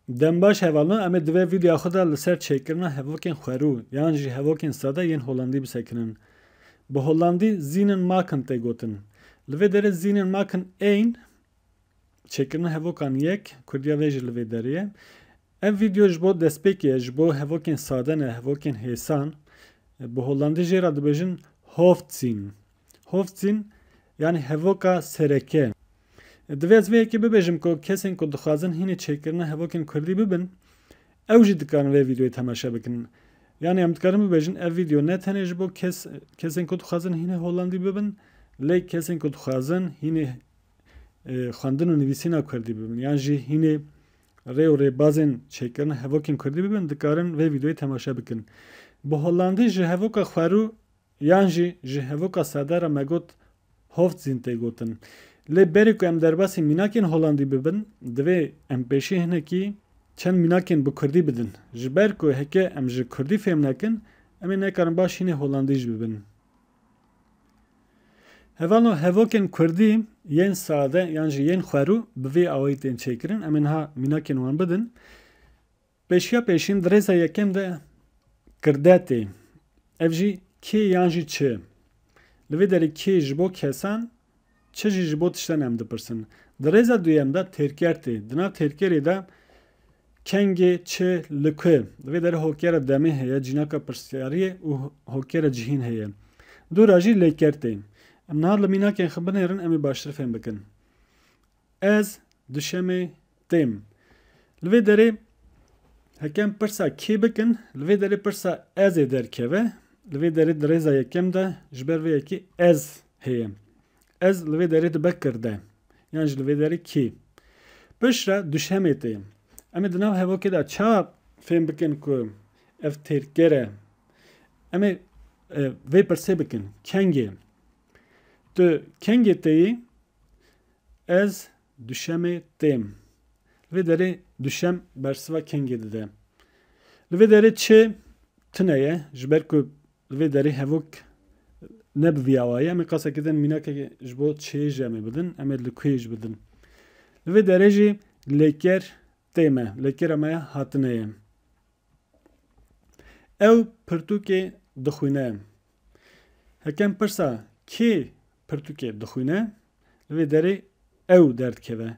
Dem baş hevalno em ê divê vîdyoya xwe de li ser çêkirina hevokên xwerû yan jî hevokên sade yên Holandî bisekinin. Bi Holandî zînen maken tê gotin. Li vê derê zînen maken ên çêkirina hevokan yek, kurdiya vê jî li vê derê ye. Ev vîdyo ji bo destpêkê ye, ji bo hevokên sade ne, hevokên hêsan. Bi Holandî jê re dibêjin hoofdzien. Hofzîn yanî hevoka sereke. Divê ez vê yekê bibêjim ku kesên ku dixwazin hînî çêkirina hevokên kurdî bibin ew jî dikarin vê vîdeoyê temaşe bikin. Yanî em dikarin bibêjin ev vîdeo ne tenê ji bo kes kesên ku dixwazin hînî holandî bibin lê kesên ku dixwazin hînî xwendin û nivîsîna kurdî bibin yan jî hînî rê û rêbazên çêkirina hevokên kurdî bibin dikarin vê vîdeoyê temaşe bikin. Bi holandî ji hevoka xwerû Yan jî ji hevûka sade re me got Hoofdzin tê gotin. Lê berî ku em derbasî mînakên holandî bibin, divê em pêşî hinekî çend mînakên bi kurdî bidin. Ji ber ku heke em ji kurdî fêm nekin, em ê nekarin baş hînê holandî jî bibin. Hevano hevokên kurdî yên sade yan jî yên xwerû bi vî awayî tên çêkirin. Em ê niha mînakên wan bidin. Pêşiya pêşîn di rêza yekem de kirde tê. Ev jî kê yan jî çi. Li vê derê kê ji bo kesan, çi jî ji bo tiştan em dipirsin. Di rêza duyem de têrker tê. Di nav têrkerê de kengê, çi, li ku. Li vê derê hokera demê heye, cînaka pirsiyariyê û hokera cihîn heye. Du ra jî lêker tê. Em niha li mînakên xwe binêrin em ê baştir fêm bikin. Ez duşemê têm. Li vê derê heke em pirsa kê bikin, li vê derê pirsa ez ê derkeve. Li vê derê di rêza yekem de ji ber vê yekê ez heye. Ez li vê derê dibe kirde yan jî li vê derê kê. Piştre duşemê tê. Em ê di nav hevokê de ça fêm bikin ku ev têrker e? Em ê vê pirsê bikin kengê. Tu kengê tê yî? Ez duşemê têm. Li vê derê duşem bersiva kengê dide. Li vê derê çi tune ye ji ber ku li vê derê hevok ne bi vî awayî em ê qasa kidin mînakeke ji bo çêyê jî em ê bidin, em ê li kuyê jî bidin. Li vê derê jî lêker tê me, lêkera me ya hatine ye. Ew pirtûkê dixwîne. Hekem pirsa kê Pirtûkê dixwîne, li vê derê ew derdikeve.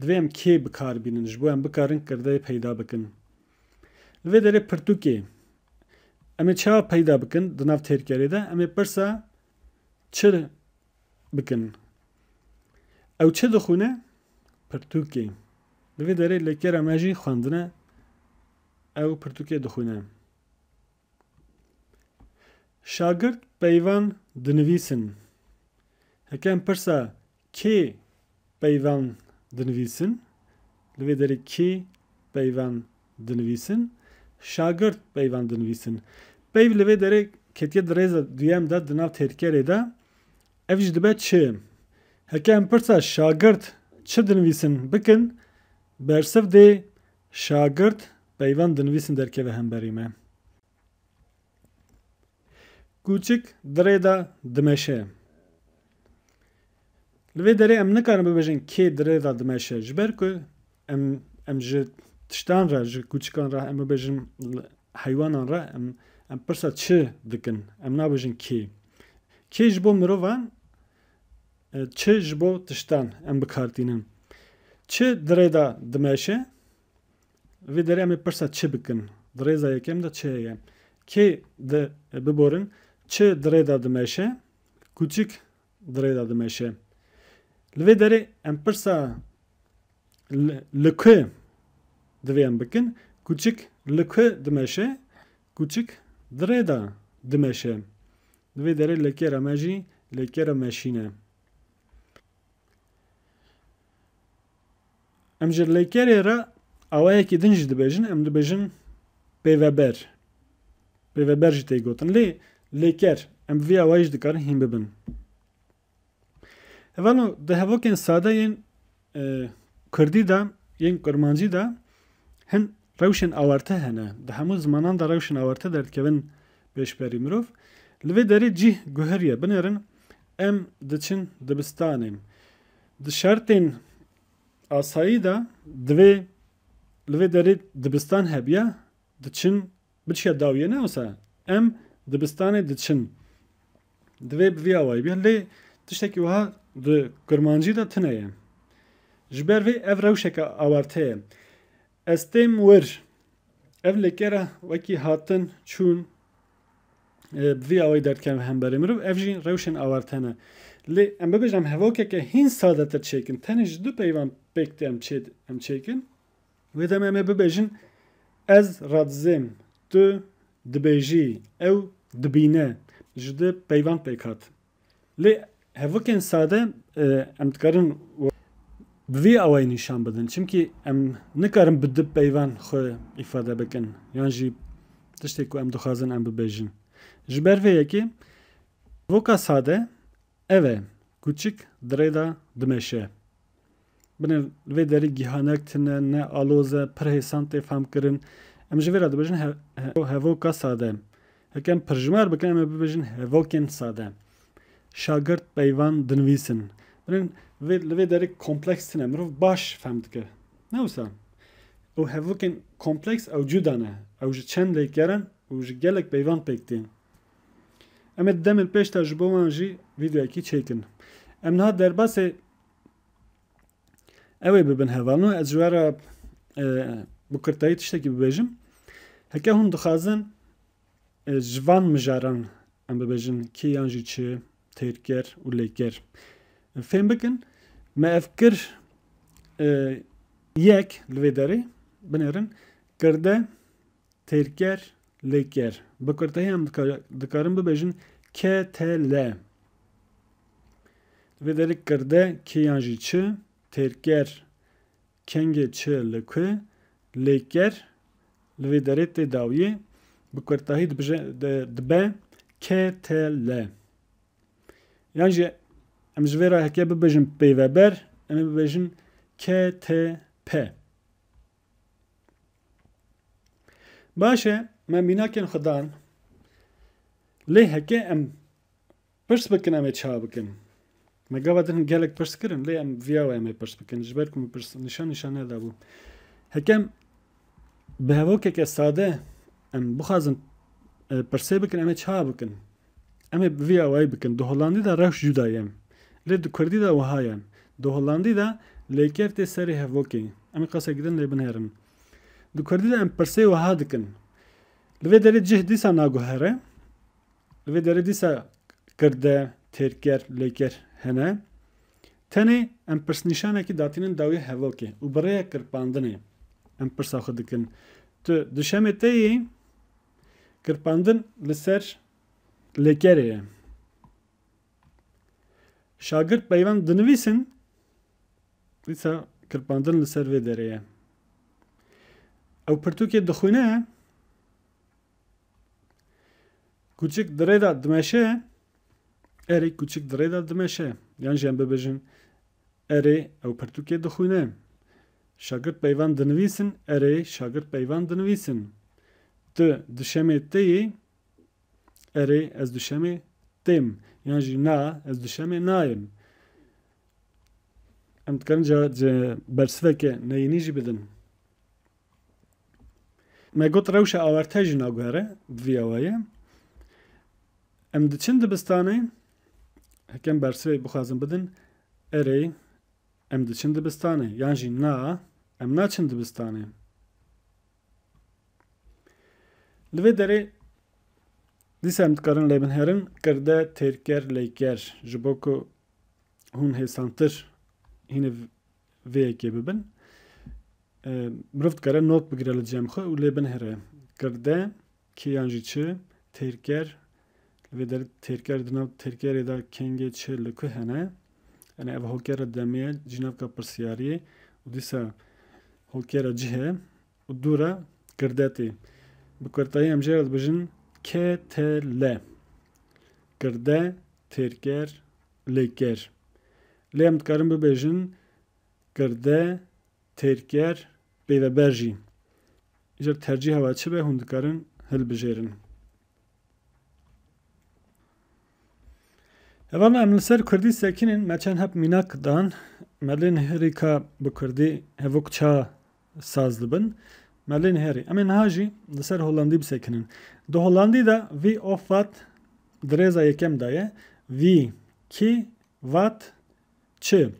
Divê em kê bi kar bînin ji bo em bikarin kirdeyê peyda bikin. Li vê derê pirtûkê em ê çawa peyda bikin di nav têrkerê de, em ê pirsa çi bikin. Ew çi dixwîne? Pirtûkê. Li vê derê lêkera me jî xwendine, ew pirtûkê dixwîne. Şagirt peyvan dinivîsin. Heke em pirsa kê peyvan dinivîsin? Li vê derê kê peyvan dinivîsin? Şagirt peyvan dinivîsin. Peyv li vê derê ketiye di rêza duyem de di nav têrkerê de. Ev jî dibe çi. Heke em pirsa şagirt çi dinivîsin bikin, bersiv dê Şagirt, Peyvan dinivîsin derkeve hemberî me. Kûçik, Dirê de dimeşe. Li vê derê em nikarin bibêjin kê dirê de dimeşe. Ji ber ku em em ji tiştan re, ji kûçikan re em bibêjin heywanan re em em pirsa çi dikin. Em nabêjin kê. Kê ji bo mirovan Çi ji bo tiştan em bikartînin? Çi di rê de dimeşe? Li vê derê em ê pirsa çi bikin? Di rêza yekem de çi heye? Kê di biborin? Çi di rê de dimeşe? Kûçik di rê de dimeşe. Li vê derê em pirsa li ku divê em bikin? Kûçik li ku dimeşe? Kûçik di rê de dimeşe. Di vê derê lekêra me jî lekêra meşîn e. Em ji lekêrê re awayekî din jî dibêjin, em dibêjin pêveber. Pêveber jî tê gotin. Lê lekêr, em bi vî awayî jî dikarin hîn bibin. Hevalo di hevokên sade yên kurdî de yên kurmancî de hin rewşên awarte hene. Di hemû zimanan de rewşên awarte derdikevin pêşberî. Mirov li vê derê cîh guheriye. Binêrin em diçin dibistanê. Di şertên asayî de divê li vê derê dibistan hebiya diçin Biçiya dawiyê ne wisa em dibistanê diçin. Divê bi vî awayî be. Lê tiştekî wiha di kurmancî de tune ye. Ji ber vê ev rewşeke awarte ye. Ez têm wir. Ev lêke re wekî hatin, çûn bi vî awayî derdkevin hemberê mirov. Ev jî rewşên awarte ne. Lê em bibêjin em hevokeke hîn sadetir çêkin. Tenê ji du peyvan pêk tê em çêkin. Wê demê em ê bibêjin ez radizêm, tu dibêjî, ew dibîne, ji di peyvan pêk hat. Lê hevokên sade em dikarin bi vî awayî nîşan bidin. Çimkî em nikarin bi di peyvan xwe îfade bikin yan jî tiştê ku em dixwazin em bibêjin. Ji ber vê yekê hevoka sade ev e, kûçik dirêda dimeşe. Binê li vê derî gihanek tune, ne aloz e, pir hêsan tê famkirin. Em ji vê re dibêjin hevoka sade. Heke em pirjimer bikin em ê bibêjin hevokên sade. Şagirt peyvan dinivîsin. Binê li vê derî kompleks tune, mirov baş fehm dike. Ne wisa. Ew hevokên kompleks ew cuda ne. Ew ji çend lêker in û ji gelek peyvan pêk tên. Em ê di demên pêş de ji bo wan jî vîdeoyekî çêkin. Em niha derbasê Ew ê bibin hevalno ez ji we re bi kurtayî tiştekî bibêjim. Heke hûn dixwazin ji van mijaran em bibêjin kê yan jî çi têr kir û lê kir. Fêm bikin me ev kir yek li vê derê binêrin kirde Têrker, lêker. Bi kurtehî em dikarin bibêjin KTL. Di vê derê kirde kê yan jî çi, têrker, kengê çi li ku, lêker, li vê derê tê dawiyê, bi kurtehî dibe KTL. Yan jî em ji vê re heke bibêjin pêveber, em ê bibêjin KTP. Baş e me mînakên xwe dan lê heke em pirs bikin em ê çawa bikin? Me gava din gelek pirs kirin lê em viyawe em ê pirs bikin ji ber ku min pirs nîşan nîşan nedabû. Hekem bi hevokeke sade em bixwazin pirsê bikin em ê çawa bikin? Em ê vê awayî bikin, di Holandî de rewş cuda ye. Lê di Kurdî de wiha ye. Di Holandî de lêker tê serê hevokê. Em ê qasek din lê binêrin. Di Kurdî de em pirsê wiha dikin. Li vê derê cih dîsa naguhere. Li vê derê dîsa kirde, têrker, lêker hene. Tenê em pirsnîşanekî datînin dawî hevokê û bi rêya kirpandinê em pirsa xwe dikin. Tu di şemê te yî? Kirpandin li ser lêkerê ye. Şagirt peyvan dinivîsin, dîsa kirpandin li ser vê derê ye. Ew pirtûkê dixwîne, kûçik di rê de dimeşe, erê kûçik di rê de dimeşe yan jî em bibêjin Erê, ew pirtûkê dixwîne. Şagirt peyvan dinivîsin Erê, şagirt peyvan dinivîsin. Tu duşemê tê yî? Erê, ez duşemê têm. Yan jî Na, ez duşemê nayêm. Em dikarin ca bersiveke neyînî jî bidin. Me got rewşa awarte jî naguhere di vî awayê. Em diçin dibistanê, hekem bersivê bixwazin bidin, erê em diçin dibistanê yan jî na em naçin dibistanê. Li vê derê dîsa em dikarin lê bin herin kirde têrker lêker ji bo ku hûn hêsantir hîniv Vê yekê bibin. Mirov dikare not bigire li cem xwe û lê binhire. Kirde, kê yan jî çi, têrker, li vê derê têrker di nav têrkerê de kengê çi li ku hene? Yanî ev hokera demê ye, cînavka pirsiyariyê û dîsa hokera cih e. û dû re kirdetî. Bi kurtayî em jê re dibijin KTL. Kirde, têrker, lêker. Lê em dikarin bibêjin kirde, têrker, peyveber jî. Îcar tercîha we çi be hûn dikarin hilbijêrin. Hevalna em li ser kurdî sekînin me çend hep mînak dan. Me lê nihêrîka bi kurdî hevok ça saz dibin. Me lê nihêrî. Em ê niha jî li ser Holandî bisekinin. Di Holandî de vî of vat di rêza yekem de ye. Vî, kî, vat, çi.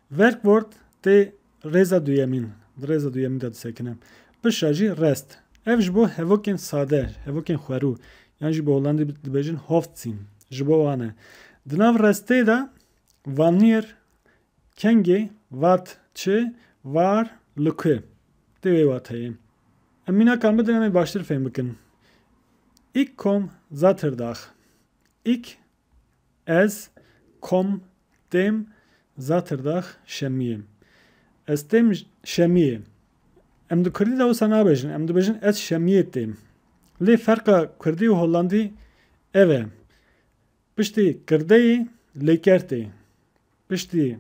Werkwoord tê rêza duyemîn, di rêza duyemîn de disekine. Pişa jî rest. Ev ji bo hevokên sade, hevokên xwerû yan jî bi Holandî dibêjin hoofdzin ji bo wan e. Di nav restê de wanneer Kengê, vat, çi, var, li ku. Tê wê wateyê. Em mînakan bidin em ê baştir fêm bikin. Ik kom za tir dax. Ik, ez, kom, têm, za tir dax, şemiyê. Ez têm şemiyê. Em di kurdî de wisa nabêjin, em dibêjin ez şemiyê têm. Lê ferqa kurdî û hollandî ev e. Piştî kirdeyê lêker tê. Piştî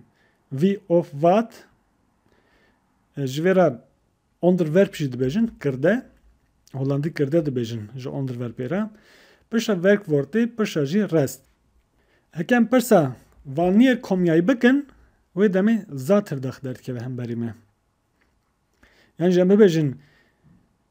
vî of vat, ji vê re onderwerp jî dibêjin, kirde, holandî kirde dibêjin ji onderwerpê re, pirsa werkwoortê, pirsa jî rest. Heke em pirsa wanîer komyayî bikin, wê demê zatirdax derdikeve hemberî me. Yan jî em bibêjin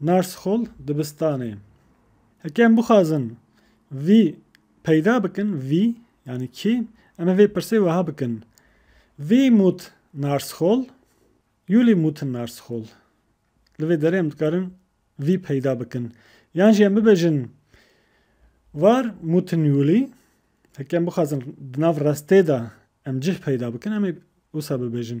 Narsxol dibistanê. Heke em bixwazin vî peyda bikin, vî yanî kî, em ê vê pirsê wiha bikin, Wie mut Narsxol? Juli mut Narsxol? Li vê derê em dikarin vî peyda bikin. Yan jî em bibêjin War mut Juli? Heke em bixwazin di nav restê de em cih peyda bikin, em ê wisa bibêjin.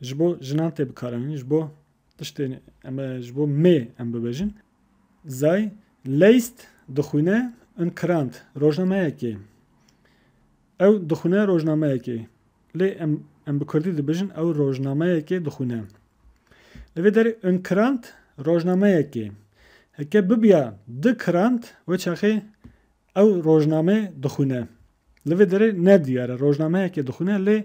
ji bo jinan tê bikaranîn, ji bo tiştê em ji bo mê em bibêjin. Zay Leist dixwîne in Krant rojnameyekê. Ew dixwîne rojnameyekê. Lê em em bi Kurdî dibêjin ew rojnameyekê dixwîne. Li vê derê in Krant rojnameyekê. Heke bibiya di Krant wê çaxê ew rojname dixwîne. Li vê derê ne diyar e rojnameyekê dixwîne lê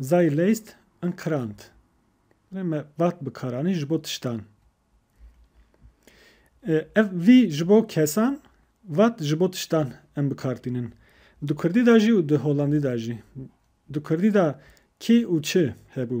Sei leist en Krant? Lê me vat bi karanî ji bo tiştan. Ev vî ji bo kesan, vat ji bo tiştan em bi kar tînin. Di kurdî de jî û di holandî de jî. Di kurdî de kî û çi hebû.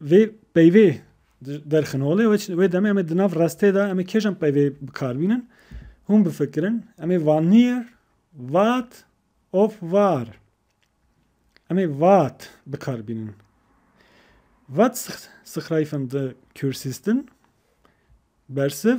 Vê peyvê derxin olê wê demê em ê di nav restê de em ê kêj em peyvê bikar bînin hûn bifikirin em ê vanir vat of var em ê vat bikar bînin vat sixrayfin di kürsistin bersiv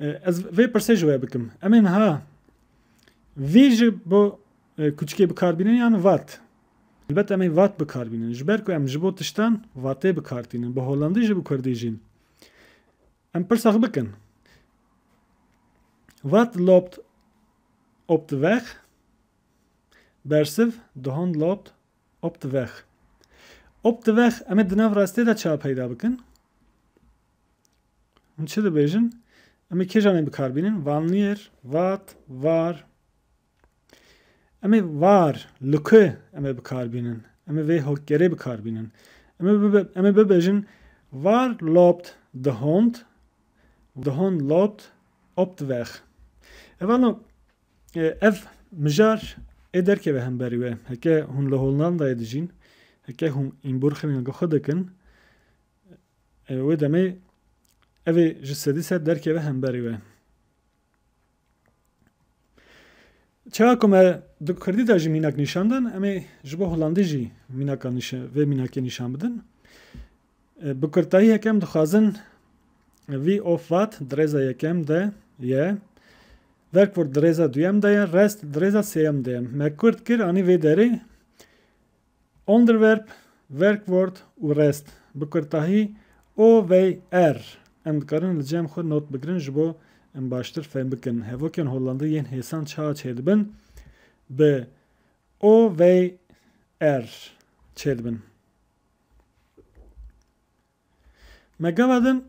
Ez vê pirsê ji we bikim. Em ê niha vî ji bo kuçikê bikarbînin yan vat? Elbet em ê vat bikarbînin. Ji ber ku em ji bo tiştan vatê bikartînin. Bi holandî jî bi kurdî jî. Em pirsa xwe bikin. Vat lobt opt weg bersiv dihon lobt opt weg. Opt weg em ê di nav rastê de ça peyda bikin. Hûn çi dibêjin? Em ê kêjan ê bikarbînin? Vanlîer, vat, var. Em ê var, luke em ê bikarbînin. Em ê vê hokgerê bikarbînin. Em ê bibe, em ê bibêjin var lobt the hond, the hond lobt opt weg. Eva no ev mijar ê derkeve hemberî we. Heke hûn li Hollandayê dijîn, heke hûn îmborxirina xwe dikin, Wê demê ev ê ji sedî sed derkeve hemberî we. Çawa ku me di Kurdî de jî mînak nîşan dan, em ê ji bo Holandî jî mînaka vê mînakê nîşan bidin. Bi kurtayî yekem dixwazin vî of vat di rêza yekem de ye, werkvort di rêza duyem de ye, rest di rêza sêyem de ye. Me kurd kir anî vê derê Onderwerp, Werkwort û Rest, bi kurtahî, OVR, em dikarin li cem xwe not bigirin ji bo em baştir fêm bikin hevokên Hollandî yên hêsan çawa çêdibin bi OVR çêdibin. Me gava din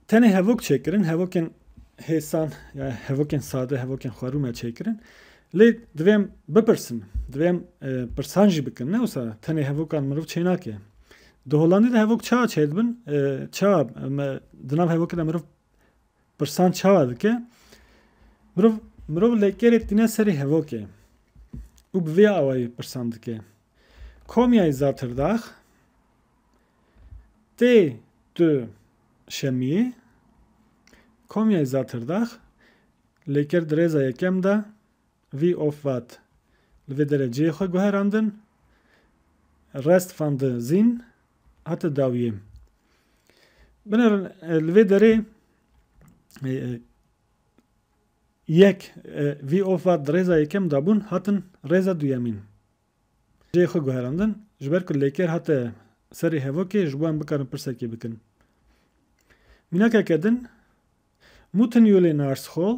tenê hevok çêkirin, hevokên hêsan ya hevokên sade, hevokên xwerû me çêkirin. Lê divê em bipirsin, divê em pirsan jî bikin. Ne wisa tenê hevokan mirov çênake. Di Hollandê de hevok çawa çêdibin, çawa di nav hevokê de mirov Pirsan çawa dike? Mirov, mirov lêkerê tîne serê hevokê û bi vê awayî pirsan dike. Komyayî Zatırdax tê du şemiyê, Komyayî Zatırdax lêker di rêza yekem de vî of vat li vê dereceyê xwe guherandin, Rest van de Zin Hate dawiyê. Binêrin li vê derê yek vî ofa di rêza yekem de bûn hatin rêza duyemîn cihê xwe guherandin ji ber ku lêker hate serê hevokê ji bo em bikarin pirsekê bikin. Mînakeke din Muttenyule Narschool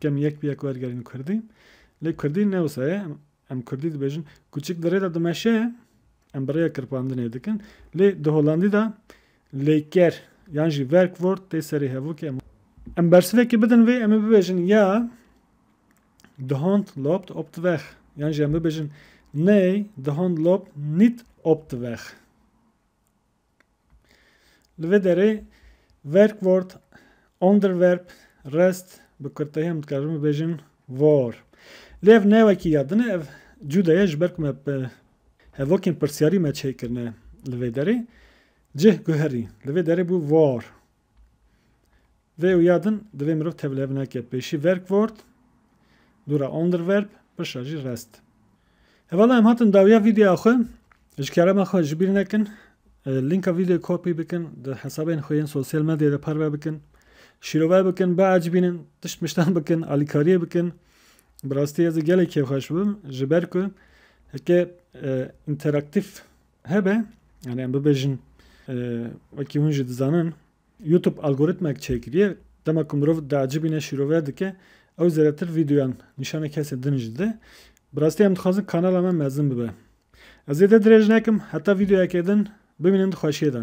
Kem yek bi yek wergerîn kurdî. Lê kurdî ne wisa ye. Em kurdî dibêjin. Kûçik di rê de dimeşe, em bi rêya kirpandinê dikin. Lê di holandî de lêker yan jî werkwoord tê serê hevokê. Em bersivekê bidin vê, em ê bibêjin ya, de hond loopt op de weg. Yan jî em bibêjin, Nee, de hond loopt niet op de weg. Li vê derê Werkwort, Onderwerp, Rest, bi kurtayî em dikarin bibêjin Vor. Lê ev ne wekî ya din e, ev cûde ye ji ber ku me hevokên pirsyarî me çêkirine li vê derê. Cih guherî, li vê derê bû Vor. Vê û ya din divê mirov tevlihev neke pêşî verkvort, dûra onderverb, pişra jî rest. Hevala em hatin dawiya vîdeoya xwe. Ji kerema xwe ji bîr nekin lînka vîdeoyê kopî bikin, di hesabên xwe yên sosyal medyayê de parve bikin. Şîrove bikin, biecibînin, tişt miştan bikin, alîkariyê bikin. Bi rastî ez ê gelekî kêfxweş bibim ji ber ku heke interaktîf Hebe yani em bibêjin wekî hûn jî dizanin YouTube algoritmek çêkiriye dema ku mirov diacibîne şîrove dike ew zêdetir vîdeoyan nîşanê kesê din jî dide bi rastî em dixwazin kanala me mezin bibe. Ez zêde dirêj nekim heta vîdeoyekê din bimînin di xweşiyê de.